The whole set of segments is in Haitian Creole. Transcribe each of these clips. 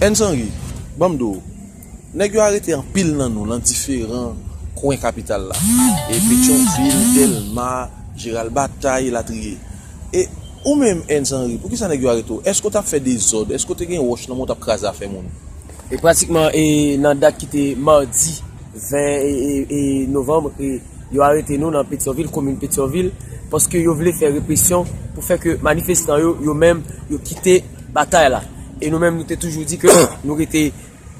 Ernst Henry, Ban m di w, nèg yo arete anpil nan nou lan diferan kwen kapital la, e Petyonvil, Dèlma, Jeral Batay, elatriye. E ou menm Ernst Henry, pou ki sa nèg yo arete w? Èske w t ap fè dezòd? Èske w te gen wòch nan men w t ap kraze afè moun? E pratikman e nan dat ki te madi 20 e novanm e yo arete nou nan Petyonvil, komin Petyonvil, paske yo vle fè represyon pou fè ke manifestan yo, yo menm, yo kite. batay la e nou menm nou te toujou di ke nou rete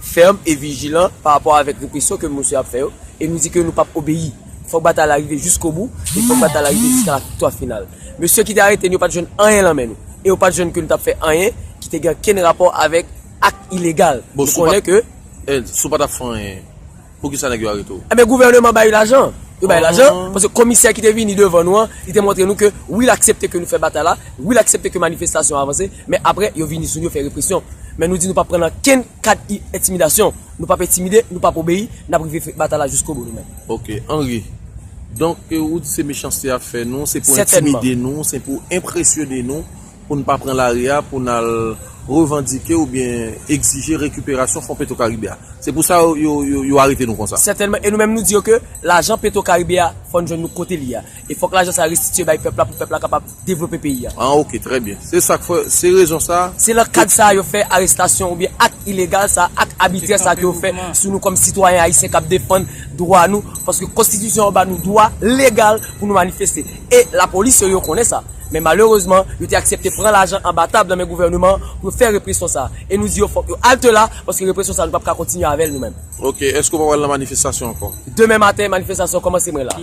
fèm e vijilan pa rapò avèk represyon ke mosye ap fè yo e nou di ke nou pap obeyi fòk batay la rive jiskobou e fòk batay la rive jiska laviktwa final mesye ki te arete nou yo pat jwenn anyen lan men nou e yo pat jwenn ke nou tap fè anyen ki te gen kenn rapò avèk ak ilegal nou konnen ke. Sou patap fè anyen. Poukisa nèg yo arete w? Enben gouvèneman ba u lajan. Yo bay lajan, paske komisè ki te vini devan nou an, li te montre nou ke wi l aksepte ke nou fè batay la, wi l aksepte ke manifestasyon an avanse, men apre yo vini sou nou, yo fè represyon. Men nou di nou p ap pran nan kenn kad entimidasyon. Nou p ap entimide, nou p ap obeyi, n ap rive fè batay la jiskobou nou menm. Ok. Henry, Donk ou di se mechanste y ap fè nou, se pou entimide nou, se pou enpresyone nou. Pou n pa pran lari a pou n al revandike oubyen egzije rekiperasyon fon Petro Karibe a. Se pou sa yo arete nou konsa. Sètènman, e nou menm nou di yo ke lajan Petro Karibe a fò n jwenn nou kote li a. E fòk lajan sa restitye bay pèp la pou pèp la kapab devlope peyi a. An ok, trè byen. Se sa k fè, se rezon sa. Se lan kad sa yo fè arestasyon oubyen ak ilegal sa, ak abitrè sa ke yo fè sou nou kòm sitwayen ayisyen k ap defann dwa nou. Paske konstitisyon an ba nou dwa legal pou nou manifeste. E lapolis yo, yo konnen sa. Men malerezman, yo te aksepte pran lajan anba tab nan men gouvèneman an pou yo fè represyon sa a. E nou di yo fòk yo alte la, paske represyon sa a nou pap ka kontinye avè l nou menm. Ok, èske w pa pral nan manifestasyon ankò? Demen maten, manifestasyon an kòmanse mwen la.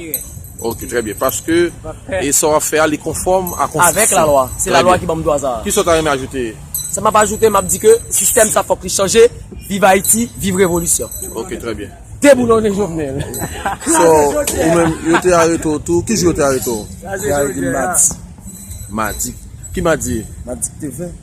Ok, trè byen. Paske e sa w ap fè a li konfòm a konstitisyon. Avèk lalwa. Se lalwa ki ban m dwa sa a. Kisa w ta renmen ajoute? Sa m ap ajoute, m ap di ke sistèm sa a fòk li chanje. Viv Ayiti, viv revolisyon! Ok, trè byen. Deboulone Jovenel. So ou menm yo te arete w tou, ki jou yo te arete w? Yo te arete m madi. Madi, ki madi? Madi ki te 20.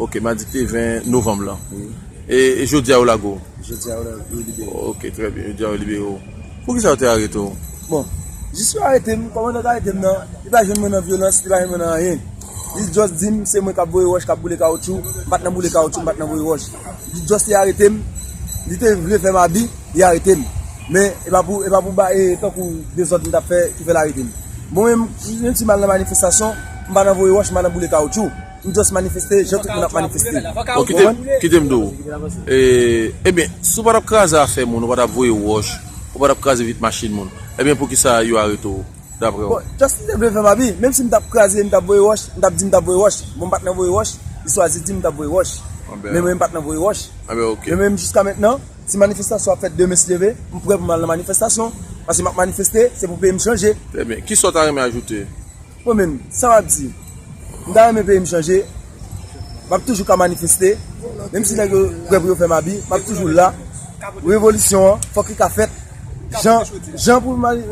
Ok, madi ki te 20 novanm lan. Wi. E jodi a yo lage w? Jodi a yo libere m. Ok, trè byen, jodi a yo libere w. Pou kisa yo te arete w? Bon, jis yo arete m, kòmandan k arete m nan, li pa jwenn mwen nan vyolans, li pa jwenn mwen nan anyen. Li just dim se mwen kap voye wòch kap boule kawoutchou, m pat nan boule kawoutchou m pat nan voye wòch. Li just te aretem, li te vle fèm abi, li aretem. Men e pa pou e pa pou bae tankou dezòd m tap fè ki fèl aretem. Mwen menm si jen ti mal nan manifestasyon, m pa nan voye wòch, m pa nan boule kawoutchou. M just manifeste jan tout moun ap manifeste. Bon kitem kitem di w, ebyen si w pa tap kraze afè moun, ou pa tap voye wòch, ou pa tap kraze vit machin moun, ebyen poukisa yo arete w? daprè ou? Justin te vle fèm abi, menm si m tap kraze e m tap voye wòch, m tap di m tap voye wòch, bon m pat nan voye wòch, li chwazi di m tap voye wòch, men mwen m pat nan voye wòch. Men mwen m jiska mentnan, si manifestasyon ap fèt demen si Dye ve, m prè pou m al nan manifestasyon, paske m ap manifeste, se pou peyi m chanje. Trè byen, kisa w ta renmen ajoute? Mwen menm, sa m ap di, m ta renmen peyi m chanje, m ap toujou ka manifeste, menm si nèg yo prè pou yo fèm abi, m ap toujou la, revolisyon an fòk li ka fèt, jan pou.